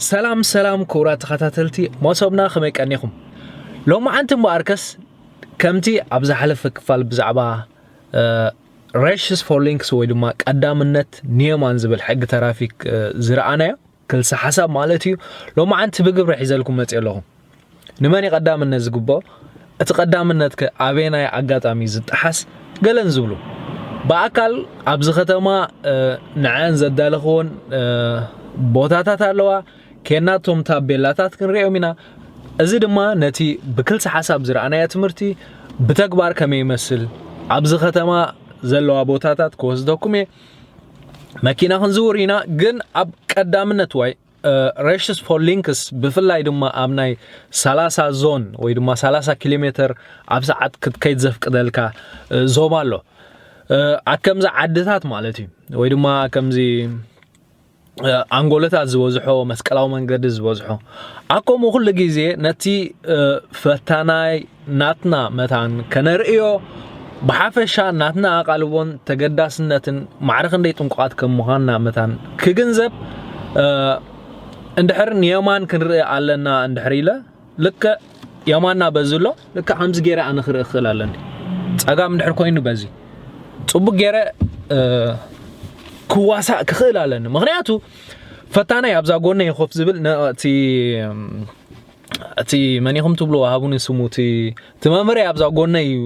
ሰላም ሰላም ክቡራት ተኸታተልቲ መሶብና ከመይ ቀኒኹም ሎማዓንቲ እምበኣርከስ ከምቲ ኣብ ዝሓለፈ ክፋል ብዛዕባ ሬሽስ ፎር ሊንክስ ወይ ድማ ቀዳምነት ኒየማን ዝብል ሕጊ ተራፊክ ዝረኣናዮ ክልሰ ሓሳብ ማለት እዩ ሎማዓንቲ ብግብሪ ሒዘልኩም መፅእ ኣለኹም ንመን እዩ ቀዳምነት ዝግብኦ? እቲ ቀዳምነትከ ኣበየናይ ኣጋጣሚ ዝጠሓስ? ገለን ዝብሉ ብኣካል ኣብዚ ከተማ ንዐን ዘዳለኽዎን ቦታታት ኣለዋ ኬናቶም ታቤላታት ክንሪኦም ኢና እዚ ድማ ነቲ ብክልሲ ሓሳብ ዝረኣናዮ ትምህርቲ ብተግባር ከመይ ይመስል ኣብዚ ከተማ ዘለዋ ቦታታት ክወስደኩም እየ መኪና ክንዝውር ኢና ግን ኣብ ቀዳምነት ዋይ ረሽስ ፖል ሊንክስ ብፍላይ ድማ ኣብ ናይ 30 ዞን ወይ ድማ 30 ኪሎ ሜተር ኣብ ሰዓት ክትከይድ ዘፍቅደልካ ዞባ ኣሎ ኣከምዚ ዓድታት ማለት እዩ ወይ ድማ ከምዚ ኣንጎሎታት ዝበዝሖ መስቀላዊ መንገዲ ዝበዝሖ ኣከምኡ ኩሉ ግዜ ነቲ ፈታናይ ናትና መታን ከነርእዮ ብሓፈሻ ናትና ኣቓልቦን ተገዳስነትን ማዕረ ክንደይ ጥንቁቓት ከም ምዃንና መታን ክግንዘብ እንድሕር ንየማን ክንርኢ ኣለና እንድሕር ኢለ ልክዕ የማና በዚ ኣሎ ልክዕ ከምዚ ገይረ ኣነ ክርኢ ክኽእል ኣለኒ ጸጋም እንድሕር ኮይኑ በዚ ጽቡቅ ገይረ ክዋሳእ ክኽእል ኣለኒ ምክንያቱ ፈታናይ ኣብዛ ጎነይ ኮፍ ዝብል ነቲ እቲ መን ኢኹም ትብልዎ ሃቡኒ ስሙ እቲ እቲ መምህረይ ኣብዛ ጎነይ እዩ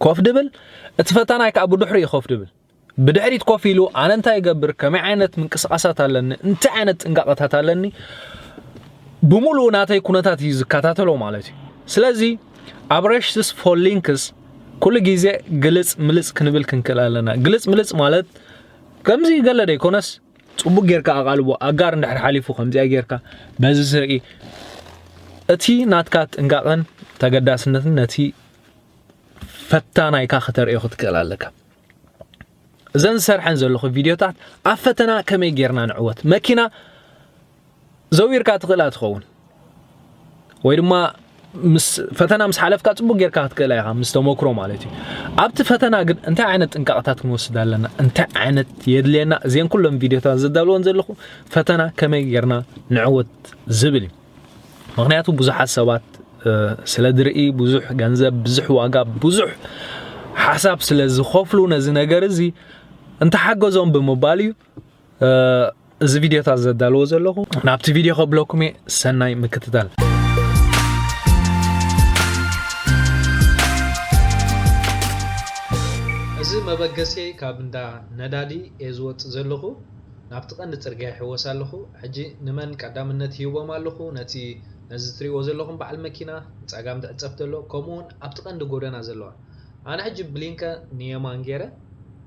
ኮፍ ድብል እቲ ፈታናይ ከዓ ብድሕሪ እዩ ኮፍ ድብል ብድሕሪት ኮፍ ኢሉ ኣነ እንታይ ይገብር ከመይ ዓይነት ምንቅስቃሳት ኣለኒ እንታይ ዓይነት ጥንቃቐታት ኣለኒ ብምሉኡ ናተይ ኩነታት እዩ ዝከታተሎ ማለት እዩ ስለዚ ኣብ ረሽትስ ፎሊንክስ ኩሉ ግዜ ግልፅ ምልፅ ክንብል ክንክእል ኣለና ግልፅ ምልፅ ማለት ከምዚ ገለ ደይኮነስ ጽቡቅ ጌርካ ኣቓልቦ ኣጋር እንድሕር ሓሊፉ ከምዚኣ ጌርካ በዚ ስርዒ እቲ ናትካ ጥንቃቐን ተገዳስነትን ነቲ ፈታናይካ ከተርእዮ ክትክእል ኣለካ እዘን ዝሰርሐን ዘለኹ ቪድዮታት ኣብ ፈተና ከመይ ጌርና ንዕወት መኪና ዘዊርካ ትኽእላ ትኸውን ወይ ድማ ምስ ፈተና ምስ ሓለፍካ ጽቡቅ ጌርካ ክትክእላ ኢኻ ምስ ተመክሮ ማለት እዩ ኣብቲ ፈተና ግን እንታይ ዓይነት ጥንቃቕታት ክንወስድ ኣለና እንታይ ዓይነት የድልየና እዚን ኩሎም ቪድዮታት ዘዳልወን ዘለኹ ፈተና ከመይ ጌርና ንዕወት ዝብል እዩ ምክንያቱ ብዙሓት ሰባት ስለ ዝርኢ ብዙሕ ገንዘብ ብዙሕ ዋጋ ብዙሕ ሓሳብ ስለ ዝኸፍሉ ነዚ ነገር እዚ እንተሓገዞም ብምባል እዩ እዚ ቪድዮታት ዘዳልዎ ዘለኹ ናብቲ ቪድዮ ከብለኩም እየ ሰናይ ምክትታል እዚ መበገሲ ካብ እንዳ ነዳዲ እየ ዝወፅእ ዘለኹ ናብቲ ቀንዲ ፅርግያ ይሕወስ ኣለኹ ሕጂ ንመን ቀዳምነት ይህቦም ኣለኹ ነቲ ነዚ ትሪእዎ ዘለኹም በዓል መኪና ጸጋም ዝዕጸፍ ዘሎ ከምኡውን ኣብቲ ቀንዲ ጎደና ዘለዋ ኣነ ሕጂ ብሊንከ ንየማን ጌረ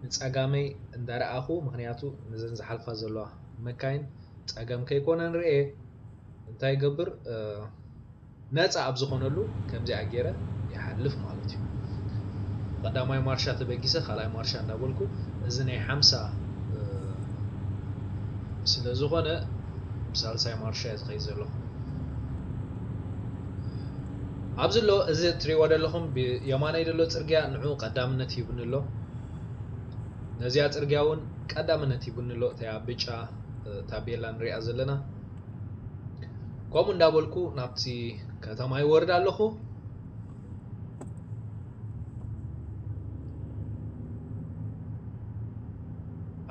ንጸጋመይ እንዳ ረኣኩ ምክንያቱ ነዘን ዝሓልፋ ዘለዋ መካይን ጸገም ከይኮነን ርእየ እንታይ ይገብር ነጻ ኣብ ዝኮነሉ ከምዚኣ ጌረ ይሓልፍ ማለት እዩ ቀዳማይ ማርሻ ተበጊሰ ካልኣይ ማርሻ እንዳ በልኩ እዚ ናይ ሓምሳ ስለ ዝኮነ ብሳልሳይ ማርሻ ዝኸይ ዘለኩ ኣብዚ ኣሎ እዚ ትሪእዎ ዘለኹም ብየማነይ ዘሎ ጽርግያ ንዑ ቀዳምነት ሂቡኒ ኣሎ ነዚኣ ጽርግያ እውን ቀዳምነት ሂቡኒ ኣሎ እታያ ብጫ ታቤላ ንሪኣ ዘለና ከምኡ እንዳበልኩ ናብቲ ከተማ ይወርድ ኣለኹ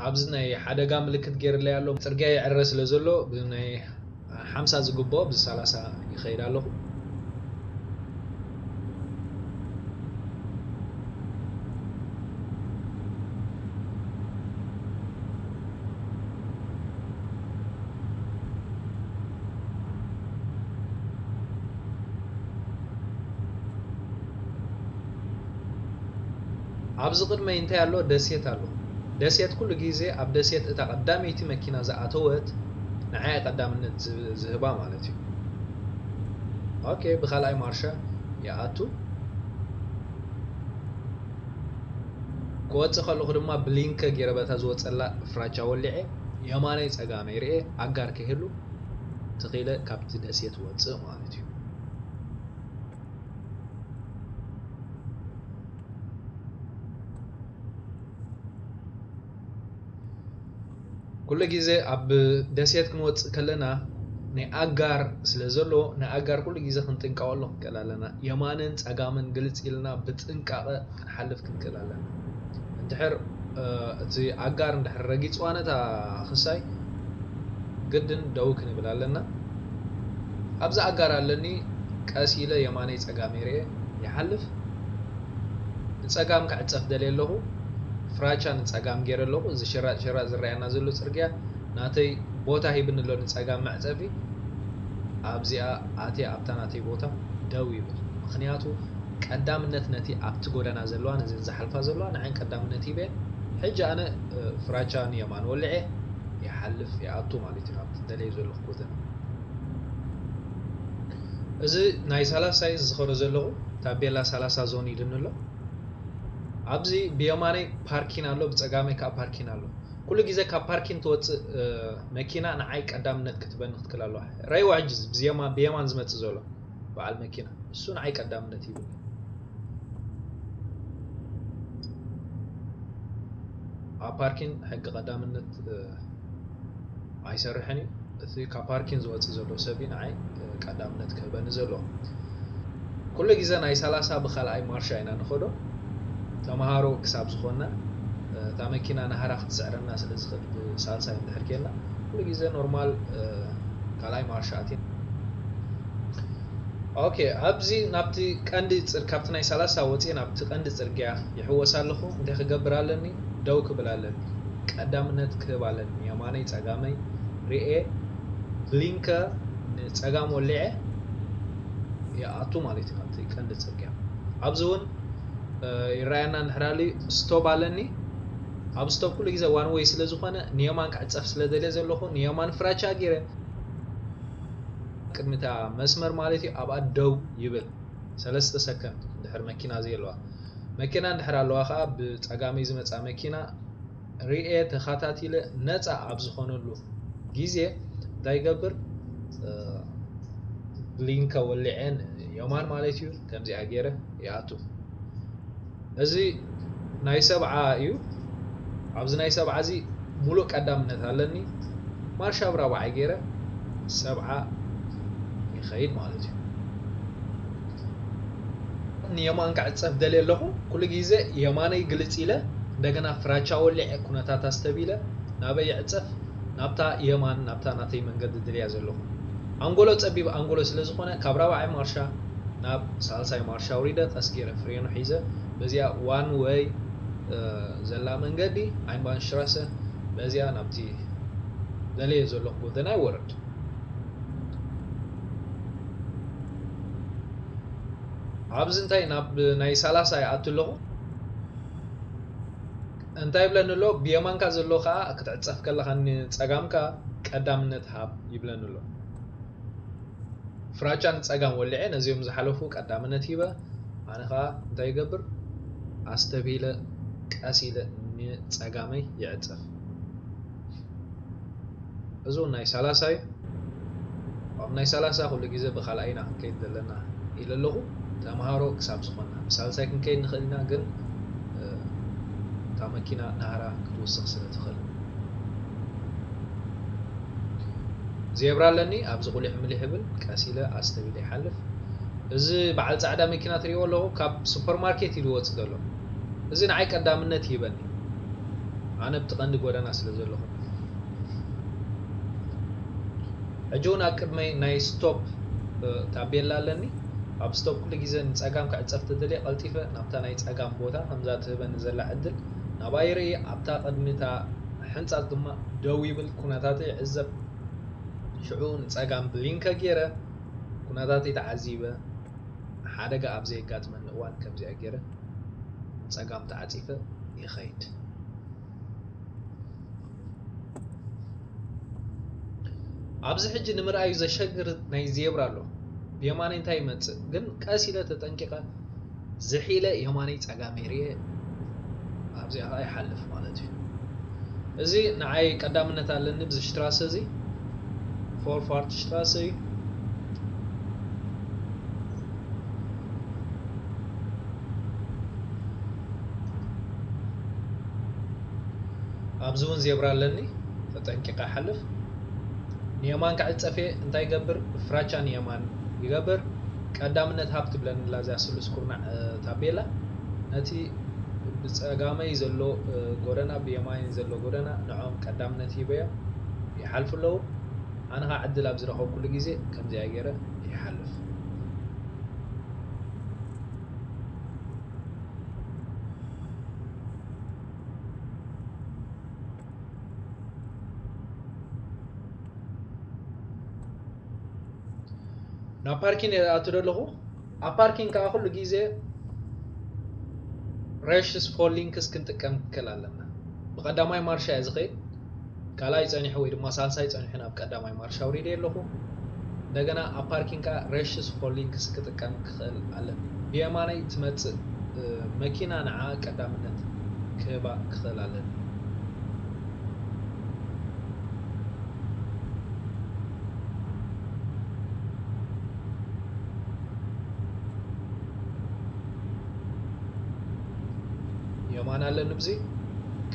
ኣብዚ ናይ ሓደጋ ምልክት ገይርለይ ኣሎ ጽርግያ ይዕረ ስለ ዘሎ ብናይ ሓምሳ ዝግብኦ ኣብዚ ሰላሳ ይኸይድ ኣለኹ። ኣብዚ ቅድመይ እንታይ ኣሎ ደሴት ኣሎ ደሴት ኩሉ ግዜ ኣብ ደሴት እታ ቀዳመይቲ መኪና ዝኣተወት ንዓያ ቀዳምነት ዝህባ ማለት እዩ ኦኬ ብካልኣይ ማርሻ ይኣቱ ክወፅእ ከለኹ ድማ ብሊንከ ገይረ በታ ዝወፀላ ፍራቻ ወሊዐ የማነይ ፀጋመይ ርኤ ኣጋር ከይህሉ ትኺለ ካብቲ ደሴት ወፅእ ማለት እዩ ኩሉ ግዜ ኣብ ደሴት ክንወፅእ ከለና ናይ ኣጋር ስለ ዘሎ ንኣጋር ኩሉ ግዜ ክንጥንቀቐሉ ክንክእል ኣለና። የማንን ፀጋምን ግልፅ ኢልና ብጥንቃቐ ክንሓልፍ ክንክእል ኣለና እንድሕር እቲ ኣጋር እንድሕር ረጊጽዋ ነታ ክሳይ ግድን ደው ክንብል ኣለና ኣብዚ ኣጋር ኣለኒ ቀስ ኢለ የማነይ ጸጋመይ ርኤ ይሓልፍ ንጸጋም ክዕጸፍ ደልየ ኣለኹ ፍራቻ ንጸጋም ገይረ ኣለኹ እዚ ሽራጥ ሽራጥ ዝረኣየና ዘሎ ጽርግያ ናተይ ቦታ ሂብኒ ኣሎ ንጸጋም መዕጸፊ ኣብዚኣ ኣትየ ኣብታ ናተይ ቦታ ደው ይብል ምክንያቱ ቀዳምነት ነቲ ኣብቲ ጎዳና ዘለዋን እዚን ዝሓልፋ ዘለዋ ንዐን ቀዳምነት ሂበ ሕጂ ኣነ ፍራቻ ን የማን ወሊዐ ይሓልፍ ይኣቱ ማለት እዩ ናብቲ ደለዮ ዘለኩ ጎደና እዚ ናይ ሳላሳ እዩ ዝዝኸሮ ዘለኹ ታቤላ ሳላሳ ዞን ኢሉኒ ኣሎ ኣብዚ ብየማነይ ፓርኪን ኣሎ ብጸጋመይ ከዓ ፓርኪን ኣሎ ኩሉ ግዜ ካብ ፓርኪን ትወጽእ መኪና ንዓይ ቀዳምነት ክትበኒ ክትክል ኣለዋ ረይዋ ሕጂ ብየማን ዝመጽእ ዘሎ በዓል መኪና እሱ ንዓይ ቀዳምነት ሂቡኒ። ኣብ ፓርኪን ሕጊ ቀዳምነት ኣይሰርሕን እዩ። እቲ ካብ ፓርኪን ዝወፅእ ዘሎ ሰብ እዩ ንዓይ ቀዳምነት ክህበኒ ዘለዎ። ኩሉ ግዜ ናይ ሰላሳ ብካልኣይ ማርሻ ኢና ንኸዶ ተምሃሮ ክሳብ ዝኾንና እታ መኪና ናህራ ክትስዕረና ስለ ዝኽእል ብሳልሳይ እንድሕር ኬንና ኩሉ ግዜ ኖርማል ካልኣይ ማርሻ ኣቲና ኦኬ ኣብዚ ናብቲ ቀንዲ ጽር ካብቲ ናይ ሰላሳ ወጺኤ ናብቲ ቀንዲ ጽርግያ ይሕወስ ኣለኹ እንታይ ክገብር ኣለኒ ደው ክብል ኣለኒ ቀዳምነት ክህብ ኣለኒ የማነይ ጸጋመይ ርኤ ብሊንከ ንጸጋም ወሊዐ ይኣቱ ማለት እዩ ናብቲ ቀንዲ ጽርግያ ኣብዚ እውን ይረኣየና ንሕራሉ ስቶብ ኣለኒ ኣብ ስቶብ ኩሉ ግዜ ዋን ወይ ስለ ዝኾነ ንየማን ክዕጸፍ ስለ ደልየ ዘለኹ ንየማን ፍራቻ ገይረ ቅድሚ እታ መስመር ማለት እዩ ኣብኣ ደው ይብል ሰለስተ ሰከንድ ድሕሪ መኪና ዘየለዋ መኪና እንድሕር ኣለዋ ከዓ ብፀጋመይ ዝመፃ መኪና ርኤ ተኸታቲለ ነፃ ኣብ ዝኾነሉ ጊዜ እንታይ ይገብር ብሊንከ ወሊዐን የማን ማለት እዩ ከምዚኣ ጌረ ይኣቱ እዚ ናይ ሰብዓ እዩ ኣብዚ ናይ ሰብዓ እዚ ሙሉእ ቀዳምነት ኣለኒ ማርሽ ኣብ ራብዓይ ጌረ ሰብዓ ይኸይድ ማለት እዩ ንየማን ክዕፀፍ ደልየ ኣለኹ ኩሉ ግዜ የማነይ ግልፅ ኢለ እንደገና ፍራቻ ወሊዐ ኩነታት ኣስተቢለ ናበይ ይዕፀፍ ናብታ የማን ናብታ ናተይ መንገዲ ድልያ ዘለኹ ኣንጎሎ ፀቢብ ኣንጎሎ ስለ ዝኾነ ካብ ራብዓይ ማርሻ ናብ ሳልሳይ ማርሽ ኣውሪደ ቀስ ጌረ ፍሬኑ ሒዘ በዚኣ ዋን ወይ ዘላ መንገዲ ኣይንባንሽትራሰ በዚኣ ናብቲ ደልየ ዘለኹ ጎደናይ ወረድ ኣብዚ እንታይ ናብ ናይ ሰላሳ ይኣቱ ኣለኹ እንታይ ይብለኒ ኣሎ ብየማንካ ዘሎ ከዓ ክትዕፀፍ ከለካ ንፀጋምካ ቀዳምነት ሃብ ይብለኒ ኣሎ ፍራቻ ንጸጋም ወሊዐ ነዚኦም ዝሓለፉ ቀዳምነት ሂበ ኣነ ከኣ እንታይ ይገብር ኣስተብሂለ ቀስ ኢለ ንጸጋመይ ይዕጸፍ እዚ ውን ናይ ሳላሳ ዩ ኣብ ናይ ሳላሳ ኩሉ ግዜ ብካልኣይና ክንከይድ ዘለና ኢለ ኣለኹ ተምሃሮ ክሳብ ዝኾንና ብሳልሳይ ክንከይድ ንኽእል ኢና ግን እታ መኪና ናህራ ክትውስኽ ስለ ትኽእል። ዜብራ ኣለኒ ኣብዚ ቁሊሕ ምሊሕ ይብል ቀስ ኢለ ኣስተቢለ ይሓልፍ እዚ በዓል ጻዕዳ መኪና ትሪእዎ ኣለኹ ካብ ሱፐርማርኬት እዩ ዝወጽእ ዘሎ እዚ ንዓይ ቀዳምነት ይህበኒ ኣነ ብቲ ቀንዲ ጎደና ስለ ዘለኹ ሕጂ ውን ኣብ ቅድመይ ናይ ስቶፕ ታቤላ ኣለኒ ኣብ ስቶፕ ኩሉ ግዜ ንጸጋም ክዕጸፍ ተደልየ ቀልጢፈ ናብታ ናይ ጸጋም ቦታ ከምዛ ትህበኒ ዘላ ዕድል ናባይ ይርኢ ኣብታ ቅድሚ እታ ሕንጻጽ ድማ ደው ይብል ኩነታተይ ይዕዘብ ሽዑ ንጸጋም ብሊንከ ጌረ ኩነታተይ ተዓዚበ ሓደጋ ኣብ ዘየጋጥመኒ እዋን ከምዚኣ ጌረ ንጸጋም ተዓጺፈ ይኸይድ። ኣብዚ ሕጂ ንምርኣዩ ዘሸግር ናይ ዜብራ ኣሎ ብየማነይ እንታይ ይመፅእ ግን ቀስ ኢለ ተጠንቂቐ ዝሒለ የማነይ ፀጋመይ ርየ ኣብዚኣ ከዓ ይሓልፍ ማለት እዩ እዚ ንዓይ ቀዳምነት ኣለኒ ብዚ ሽትራሰ እዚ ፎርፋርት ሽትራሰ እዩ ኣብዚ እውን ዜብራ ኣለኒ ተጠንቂቀ ሓልፍ ንየማን ክዕፀፍ እየ እንታይ ይገብር ፍራቻ ንየማን ይገብር ቀዳምነት ሃብ ትብለኒ ኣላ እዚኣ ስሉስ ኩርናዕ ታቤላ ነቲ ብፀጋመይ ዘሎ ጎደና ብየማይን ዘሎ ጎደና ንዕኦም ቀዳምነት ሂበዮም ይሓልፉ ኣለዉ ኣነ ከዓ ዕድል ኣብ ዝረኸብኩሉ ግዜ ከምዚኣ ገይረ ይሓልፍ ናብ ፓርኪን እየ ዝኣቱ ዘለኹ ኣብ ፓርኪን ከዓ ኩሉ ግዜ ሬሽስ ፎር ሊንክስ ክንጥቀም ክል ኣለና ብቀዳማይ ማርሻ እየ ዝኸይድ ካልኣይ ጸኒሑ ወይ ድማ ሳልሳይ ጸኒሑ ናብ ቀዳማይ ማርሽ ኣውሪደዮ ኣለኹ። እንደገና ኣብ ፓርኪንግ ከኣ ረሽስ ሆሊንክስ ክጥቀም ክኽእል ኣለኒ። ብየማነይ ትመጽእ መኪና ንዓኣ ቀዳምነት ክህባ ክኽእል ኣለኒ። የማን ኣለኒ ብዚ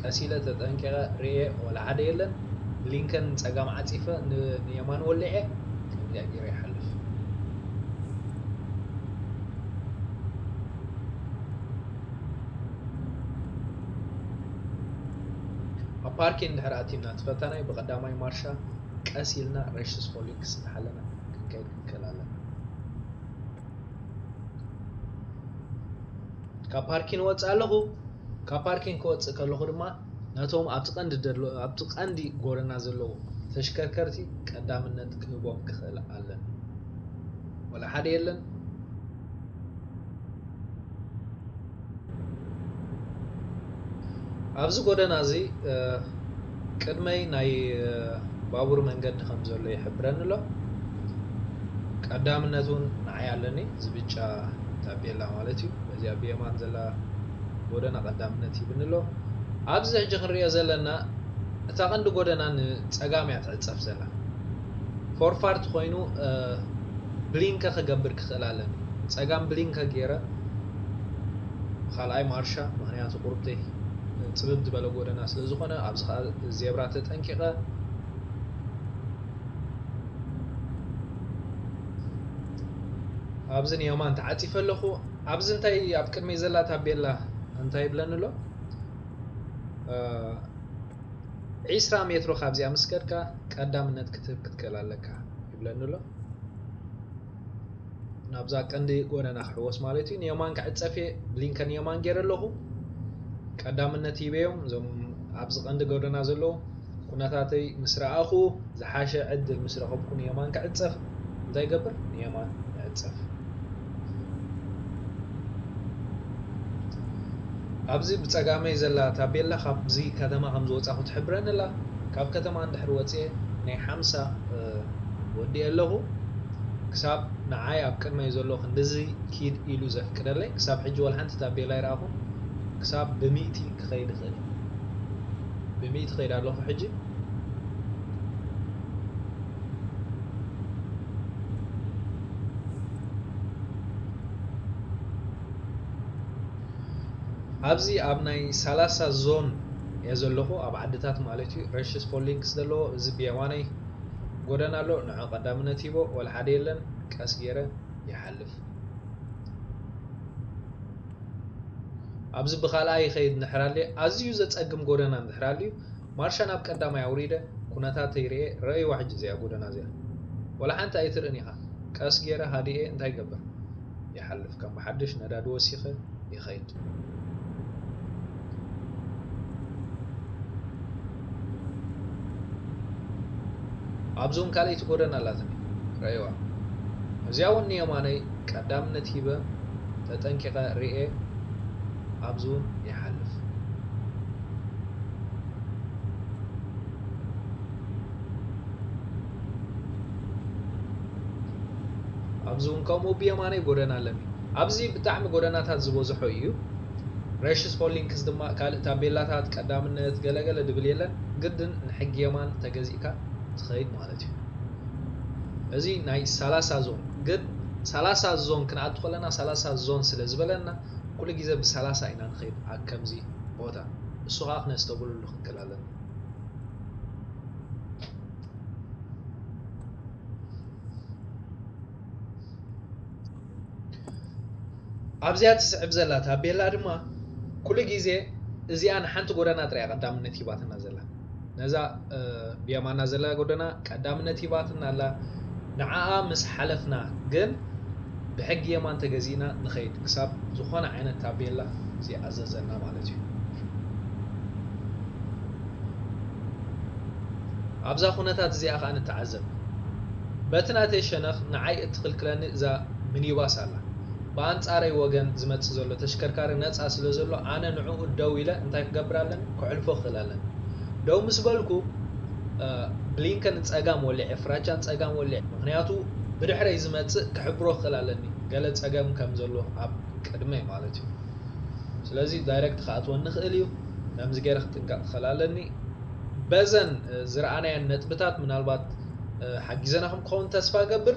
ቀስ ኢለ ተጠንቂቐ ርእየ ወላ ሓደ የለን ብሊንከን ንጸጋም ዓጺፈ ንየማን ወሊዐ ከምዚኣ ገይረ ይሓልፍ ኣብ ፓርኪ እንድሕር ኣቲና ትፈታናይ ብቐዳማይ ማርሻ ቀስ ኢልና ሬሽስ ፎሊክስ እናሓለና ክንከይድ ክንክእል ኣለና ካብ ፓርኪን ወፅእ ኣለኹ ካብ ፓርኪን ክወፅእ ከለኹ ድማ ነቶም ኣብቲ ቀንዲ ኣብቲ ቀንዲ ጎደና ዘለዉ ተሽከርከርቲ ቀዳምነት ክህቦም ክኽእል ኣለኒ ወላ ሓደ የለን ኣብዚ ጎደና እዚ ቅድመይ ናይ ባቡር መንገዲ ከም ዘሎ ይሕብረኒ ኣሎ ቀዳምነት እውን ንዓይ ኣለኒ እዚ ብጫ ታፔላ ማለት እዩ በዚኣ ብየማን ዘላ ጎደና ቀዳምነት ይብኒ ኣሎ ኣብዚ ሕጂ ክንሪኦ ዘለና እታ ቀንዲ ጎደና ንፀጋም እያ ትዕፀፍ ዘላ ፎርፋርት ኮይኑ ብሊንከ ክገብር ክኽእል ኣለኒ ጸጋም ብሊንከ ገይረ ብካልኣይ ማርሻ ምክንያቱ ቁርብተይ ጽብብ ዝበለ ጎደና ስለ ዝኾነ ኣብዚ ከኣ ዜብራ ተጠንቂቐ ኣብዚ ንየማን ተዓጺፈ ኣለኹ ኣብዚ እንታይ ኣብ ቅድመይ ዘላ ታቤላ እንታይ ይብለኒ ኣሎ ዒስራ ሜትሮ ካብዚኣ ምስ ከድካ ቀዳምነት ክትህብ ክትክእል ኣለካ ይብለኒ ኣሎ። ናብዛ ቀንዲ ጎደና ክሕወስ ማለት እዩ። ንየማን ክዕፀፍ እየ፣ ብሊንከ ንየማን ገይረ ኣለኹ። ቀዳምነት ሂበዮም እዞም ኣብዚ ቀንዲ ጎደና ዘለዉ ኩነታተይ ምስ ረኣኹ ዝሓሸ ዕድል ምስ ረኸብኩ ንየማን ክዕፀፍ እንታይ ይገብር ንየማን ይዕፀፍ። ኣብዚ ብጸጋመይ ዘላ ታቤላ ካብዚ ከተማ ከም ዝወጻኹ ትሕብረኒ ኣላ። ካብ ከተማ እንድሕር ወጺኤ ናይ ሓምሳ ወዲኤ ኣለኹ። ክሳብ ንዓይ ኣብ ቅድመይ ዘሎ ክንድዚ ኪድ ኢሉ ዘፍቅደለይ ክሳብ ሕጂ ወላ ሓንቲ ታቤላ ኣይረኣኹን። ክሳብ ብሚእቲ ክኸይድ ይኽእል እየ። ብሚእቲ እኸይድ ኣለኹ ሕጂ። ኣብዚ ኣብ ናይ ሳላሳ ዞን እየ ዘለኹ ኣብ ዓድታት ማለት እዩ ረሽስ ፖሊንክስ ዘለዎ እዚ ብየማነይ ጎደና ኣሎ ንዑ ቀዳምነት ሂቦ ወላ ሓደ የለን ቀስ ገይረ ይሓልፍ ኣብዚ ብካልኣይ ይኸይድ እንድሕር ኣዝዩ ዘፀግም ጎደና እንድሕር ኣልዩ ማርሻ ናብ ቀዳማይ ኣውሪደ ኩነታተይ ሪኤ ረኣይዋ ሕጂ እዚኣ ጎደና እዚኣ ዋላ ሓንቲ ኣይትርእን ኢኻ ቀስ ጌረ ሃዲኤ እንታይ ይገብር ይሓልፍ ከም ብሓድሽ ነዳዲ ወሲኸ ይኸይድ ኣብዚ እውን ካልኣይቲ ጎደና ኣላትኒ ረኣይዋ እዚኣ እውን ንየማነይ ቀዳምነት ሂበ ተጠንቂቐ ሪኤ ኣብዚ እውን ይሓልፍ ኣብዚ እውን ከምኡ ብየማነይ ጎደና ኣለኒ ኣብዚ ብጣዕሚ ጎደናታት ዝበዝሖ እዩ ረሽስ ሆሊንክስ ድማ ካልእ ታቤላታት ቀዳምነት ገለ ገለ ድብል የለን ግድን ንሕጊ የማን ተገዚእካ ትኸይድ ማለት እዩ እዚ ናይ ሰላሳ ዞን ግን ሰላሳ ዞን ክንኣቱ ከለና ሰላሳ ዞን ስለ ዝበለና ኩሉ ግዜ ብሰላሳ ኢና ንኸይድ ከምዚ ቦታ እሱ ከኣ ክነስተብህሉሉ ክንክእል ኣለና። ኣብዚኣ ትስዕብ ዘላ ታቤላ ድማ ኩሉ ግዜ እዚኣ ንሓንቲ ጎደና ጥራይ እያ ቀዳምነት ሂባትና ዘላ። ነዛ ብየማና ዘላ ጎደና ቀዳምነት ሂባትና ኣላ፣ ንዓኣ ምስ ሓለፍና ግን ብሕጊ የማን ተገዚእና ንኸይድ ክሳብ ዝኾነ ዓይነት ታቤላ ዘይኣዘዘና ማለት እዩ። ኣብዛ ኩነታት እዚኣ ከኣ ንተዓዘብ። በቲ ናተይ ሸነኽ ንዓይ እትኽልክለኒ እዛ ሚኒባስ ኣላ። ብኣንጻረይ ወገን ዝመጽእ ዘሎ ተሽከርካሪ ነጻ ስለ ዘሎ ኣነ ንዕኡ ደው ኢለ እንታይ ክገብር ኣለኒ ከሕልፎ ክኽእል ኣለኒ ደው ምስ በልኩ ብሊንከን ንጸጋም ወሊዐ ፍራቻ ንጸጋም ወሊዐ ምኽንያቱ ብድሕረይ ዝመጽእ ክሕብሮ ክኽእል ኣለኒ ገለ ጸገም ከም ዘሎ ኣብ ቅድመይ ማለት እዩ ስለዚ ዳይረክት ክኣትወኒ ክእል እዩ ከምዚ ገይረ ክጥንቀቕ ክኽእል ኣለኒ በዘን ዝረኣናየን ነጥብታት ምናልባት ሓጊዘናኹም ክኸውን ተስፋ ገብር